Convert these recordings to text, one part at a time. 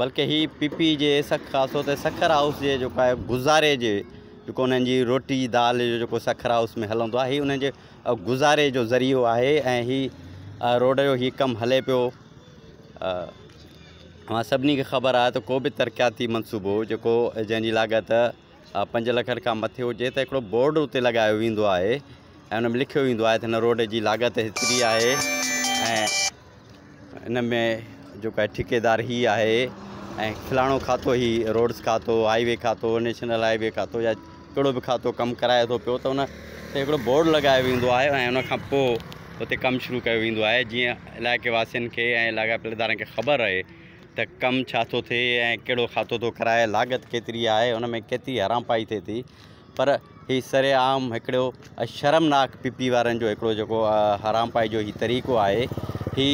بلڪه هي P P جي سک خاص طور تي سکر هائوس جي جيڪو آهي گذاري جي جيڪو انهن جي روٽي دال جو جيڪو سکر هائوس ۾ هلندو آهي هي انهن جي گذاري جو ذريعو آهي ۽ هي روڊ جو هي ڪم هلي پيو اوهان سڀني کي خبر آهي ته ڪو به ترقياتي منصوبو جيڪو جنهن جي لاڳت پنج لک کان مٿي هجي ته هڪڙو بورڊ اتي لڳايو ويندو آهي ۽ ان ۾ لکيو ويندو آهي ته هن روڊ جي لاڳت هيتري آهي ۽ ان ۾ جيڪو آهي ٺيڪيدار هي آهي ۽ فلاڻو کاتو هي روڊس کاتو هائي وي کاتو نيشنل هائي وي کاتو يا ڪهڙو به کاتو ڪم ڪرائي ٿو پيو ته ان تي هڪڙو بورڊ لڳايو ويندو آهي ۽ ان کان پوء اتي ڪم شروع ڪيو ويندو آهي جيئن علائقي واسين کي ۽ لاڳاپيل ادارن کي خبر رهي ته ڪم ڇا ٿو ٿئي ۽ ڪهڙو کاتو ٿو ڪرائي لاڳت ڪيتري آهي ان ۾ ڪيتري حرامپائي ٿئي ٿي پر هي سر عام هڪڙو شرمناڪ پي پي وارن جو هڪڙو جيڪو حرام پائي جو هي طريقو آهي هي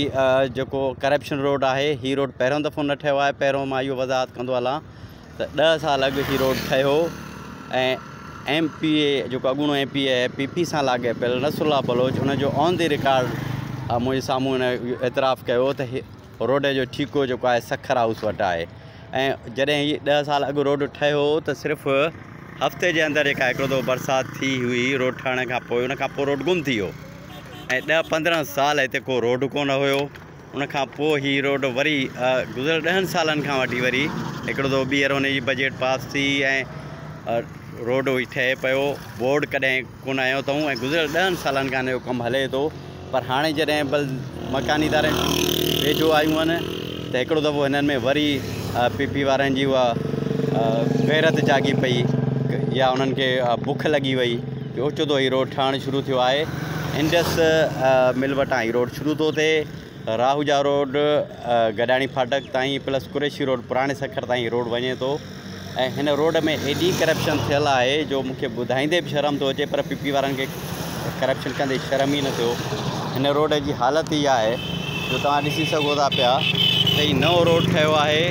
جيڪو ڪرپشن روڊ آهي هي روڊ پهريون دفعو نه ٺهيو آهي پهريون مان اهو وضاحت ڪندو هلان ته ڏهه سال اڳ هي روڊ ٺهيو ۽ ايم پي اي جيڪو اڳوڻو ايم پي اي آهي پي پي سان لاڳاپيل نصر الله بلوچ ان جو آن دي رڪارڊ منهنجي سامهون هن اعتراف ڪيو ته روڊ جو ٺيڪو جيڪو آهي سکر هائوس وٽ آهي ۽ جڏهن هي ڏهه سال اڳ روڊ ٺهيو هو ته صرف هفتي جي اندر جيڪا هڪڙو دفعو برسات ٿي هئي روڊ ٺهڻ کان پوء ان کان پوء روڊ گم ٿي ويو ۽ ڏهه پندرهن سال هتي ڪو روڊ ڪونه هيو ان کان پوء هي روڊ وري گذريل ڏهن سالن کان وٺي وري هڪڙو دفعو ٻيهر ان جي بجيٽ پاس ٿي ۽ روڊ ٺهي پيو بورڊ ڪڏهن ڪونه آيو اٿئون ۽ گذريل ڏهن سالن کان اهو ڪم هلي ٿو پر هاڻي جڏهن بل مڪاني ادارن ويجهو آيون آهن ته هڪڙو دفعو هنن ۾ وري پي پي وارن جي اها غيرت جاڳي پئي يا انهن کي بک لڳي وئي جو اوچتو هي روڊ ٺهڻ شروع ٿيو آهي انڊس مل وٽان هي روڊ شروع ٿو ٿئي راهوجا روڊ گڏاڻي ڦاٽڪ تائين پلس قريشي روڊ پراڻي سکر تائين روڊ وڃي ٿو ۽ هن روڊ ۾ ايڏي ڪرپشن ٿيل آهي جو مون کي ٻڌائيندي به شرم ٿو اچي پر پي پي وارن کي ڪرپشن ڪندي شرم ئي نه ٿيو هن روڊ جي حالت هي آهي جو توهان ڏسي سگهو ٿا پيا ته هي نئون روڊ ٺهيو آهي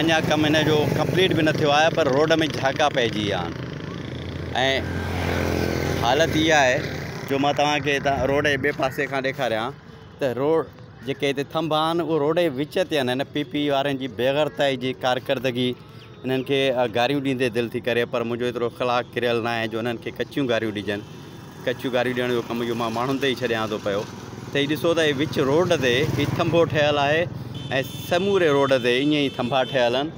اڃا ڪم هن جو ڪمپليٽ به نه ٿيو آهي پر روڊ ۾ جهاڪا پئجي ويا آهن حالت هي آهي جو مان توهان کي روڊ جي ٻئي پاسي کان ڏيکاريان ته روڊ جيڪي هتي ٿنڀا آهن اهي روڊ جي وچ تي آهن هن پي پي وارن جي بي غرتائي جي ڪارڪردگي انهن کي گاريون ڏيندي دل ٿي ڪري پر منهنجو ايترو اخلاق ڪريل ناهي جو انهن کي ڪچيون گاريون ڏجن ڪچيون گاريون ڏيڻ جو ڪم اهو مان ماڻهن تي ئي ڇڏيان ٿو پيو ته هي ڏسو ته هي وچ روڊ تي هي ٿنڀو ٺهيل آهي ۽ سموري روڊ تي ائين ئي ٿنڀا ٺهيل آهن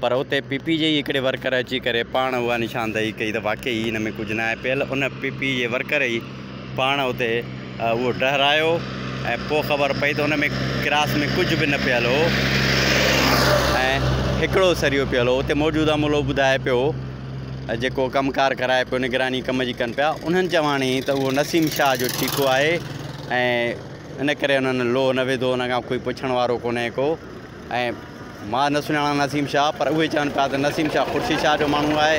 پر اتي پي پي جي ئي هڪڙي ورڪر اچي ڪري پاڻ اها نشاندهي ڪئي ته واقعي هن ۾ ڪجهه ناهي پيل ان پي پي جي ورڪر ئي پاڻ اتي اهو ڊهرايو ۽ پوء خبر پئي ته ان ۾ ڪراس ۾ ڪجهه به نه پيل هو ۽ هڪڙو سريو پيل هو اتي موجوده ملو ٻڌائي پيو جيڪو ڪم ڪار ڪرائي پيو نگراني ڪم جي ڪن پيا انهن چواڻي ته اهو نسيم شاهه جو ٺيڪو آهي ۽ ان ڪري انهن لوهه نه وڌو ان کان ڪوئي پڇڻ وارو ڪونهي ڪو ۽ مان نه سڃاڻان نسيم شاهه پر اهي چون پيا ته نسيم شاهه خورشيد شاهه جو ماڻهو آهي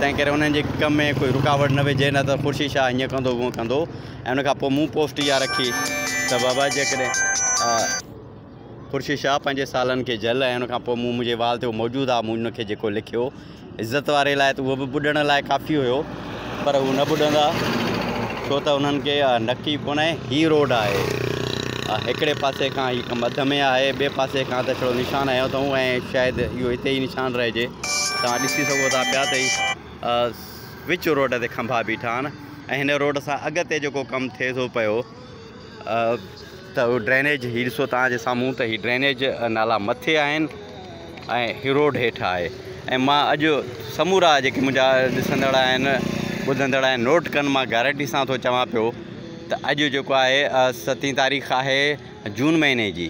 تنهن ڪري انهن جي ڪم ۾ ڪوئي رڪاوٽ نه وجهي نه ته خورشيد شاهه هيئن ڪندو هونئن ڪندو ۽ ان کان پوء مون پوسٽ اها رکي ته بابا جيڪڏهن خورشيد شاهه پنهنجي سالن کي جهل ۽ ان کان پوء مون منهنجي وال تي هو موجود آهي مون ان کي جيڪو لکيو عزت واري لاء ته اهو به ٻڏڻ لاء ڪافي هيو پر هو نه ٻڏندا ڇو ته انهن کي اها نڪي ڪونهي هي روڊ آهي هڪڙي پاسي کان هي ڪم اڌ ۾ آهي ٻئي پاسي کان ته هڪڙو نشان هنيو اٿئون ۽ شايد اهو هتي ئي نشان رهجي توهان ڏسي سگهو ٿا پيا ته وچ روڊ تي کنڀا بيٺا آهن ۽ هن روڊ سان اڳتي جيڪو ڪم ٿئي ٿو پيو ته ڊرينيج هي ڏسو توهان جي سامهون ته هي ڊرينيج نالا مٿي آهن ۽ هي روڊ هيٺ آهي ۽ مان اڄ سمورا جيڪي منهنجا ڏسندڙ آهن ٻڌندڙ آهن نوٽ ڪن مان گارنٽي سان ٿو چوان پيو ته اڄ جيڪو آهي ستين تاريخ آهي جون مهيني جي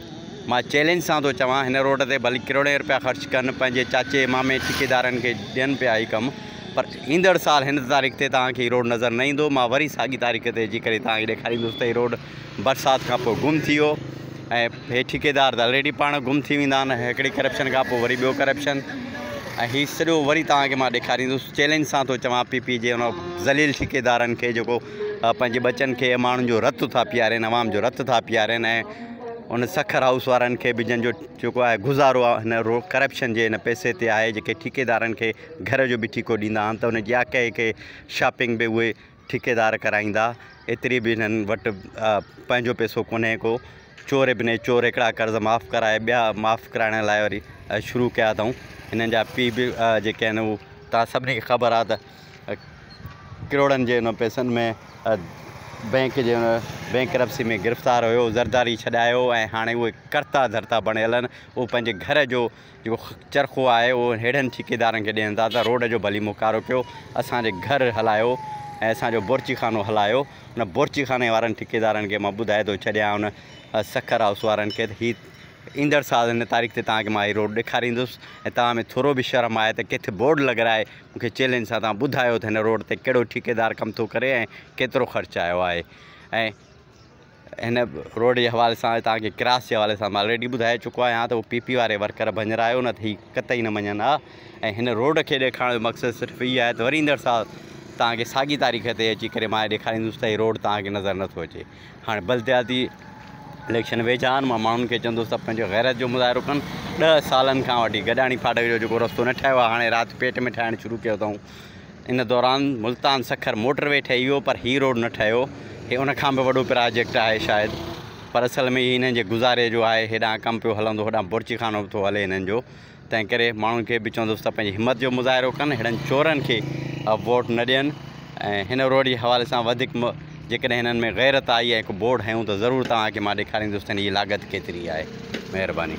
مان چيلنج سان ٿو چوان هن روڊ تي ڀلي ڪروڙين روپيا خرچ ڪن پنهنجي چاچي مامي ٺيڪيدارن کي ڏين پيا هي ڪم پر ايندڙ سال هن تاريخ تي توهان کي هي روڊ نظر نه ايندو. مان وري ساڳي تاريخ تي اچي ڪري توهان کي ڏيکاريندس ته هي روڊ برسات کان پوء گم ٿي ويو ۽ هي ٺيڪيدار ته الريڊي پاڻ گم ٿي ويندا آهن هڪڙي ڪرپشن کان پوء وري ٻيو ڪرپشن ۽ هي سڄو وري توهان کي مان ڏيکاريندس چيلنج سان ٿو چوان پي پي جي ان ذليل ٺيڪيدارن کي جيڪو پنهنجي ٻچن کي ماڻهن جو رت ٿا پيارين عوام جو رت ٿا پيارين ۽ ان سکر هائوس وارن کي به جن جو جيڪو آهي گذارو هن رو ڪرپشن جي هن پئسي تي آهي جيڪي ٺيڪيدارن کي گهر جو به ٺيڪو ڏيندا آهن ته ان جي اها ڪهي ڪهي شاپنگ به اهي ٺيڪيدار ڪرائيندا ايتري به انهن وٽ پنهنجو پيسو ڪونهي ڪو چور ابني چور هڪڙا قرض معاف ڪرائي ٻيا معاف ڪرائڻ لاء وري شروع ڪيا اٿائون هنن جا پي به جيڪي آهن هو تان سڀني کي خبر آهي ته ڪروڙن جي ان پيسن ۾ بينڪ جي بينڪ رپسي ۾ گرفتار هيو زرداري ڇڏايو ۽ هاڻي اهي ڪرتا ڌرتا بڻيل آهن اهو پنهنجي گهر جو جيڪو چرخو آهي اهو ههڙن ٺيڪيدارن کي ڏين ٿا ته روڊ جو ڀلي موڪارو ڪيو اسان جي گهر هلايو ۽ اسان جو بورچي خانو هلايو ان بورچي خاني وارن ٺيڪيدارن کي مان ٻڌائي ٿو ڇڏيان ان سکر هائوس وارن کي ته هي ايندڙ سال ان تاريخ تي تان کي مان هي روڊ ڏيکاريندس ۽ تان ۾ ٿورو به شرم آهي ته ڪٿ بورڊ لڳرائي مون کي چيلنج سان تان ٻڌايو ته هن روڊ تي ڪهڙو ٺيڪيدار ڪم ٿو ڪري ۽ ڪيترو خرچ آيو آهي ۽ هن روڊ جي حوالي سان هتان کي ڪراس جي حوالي سان مان آلريڊي ٻڌائي چڪو آهيان ته هو پي پي واري ورڪر ڀڃرايو نه ته هي قطعي نه مڃن ها ۽ هن روڊ کي ڏيکارڻ جو مقصد صرف هي آهي ته وري ايندڙ سال تان کي ساڳي تاريخ تي اچي ڪري مان ڏيکاريندس ته هي روڊ تان کي نظر نه ٿو اچي هاڻي بلدياتي اليڪشن ويجها آهن مان ماڻهن کي چوندس ته پنهنجو غيرت جو مظاهرو ڪن ڏهه سالن کان وٺي گڏاڻي ڦاٽڪ جو جيڪو رستو نه ٺاهيو آهي هاڻي رات پيٽ ۾ ٺاهڻ شروع ڪيو اٿئون ان دوران ملتان سکر موٽر وي ٺهي ويو پر هي روڊ نه ٺهيو هي ان کان به وڏو پراجيڪٽ آهي شايد پر اصل ۾ هي هنن جي گذاري جو آهي هيڏانهن ڪم پيو هلندو هوڏانهن بورچي خانو به ٿو هلي هنن جو تنهن ڪري ماڻهن کي به چوندس ته پنهنجي همت جو مظاهرو ڪن هيڙن چورن کي ووٽ نه ڏين ۽ هن روڊ جي حوالي سان وڌيڪ جيڪڏهن هنن ۾ غيرت آئي ۽ هڪ بورڊ هنيون ته ضرور توهان کي مان ڏيکاريندس ته هن جي لاڳت ڪيتري آهي مهرباني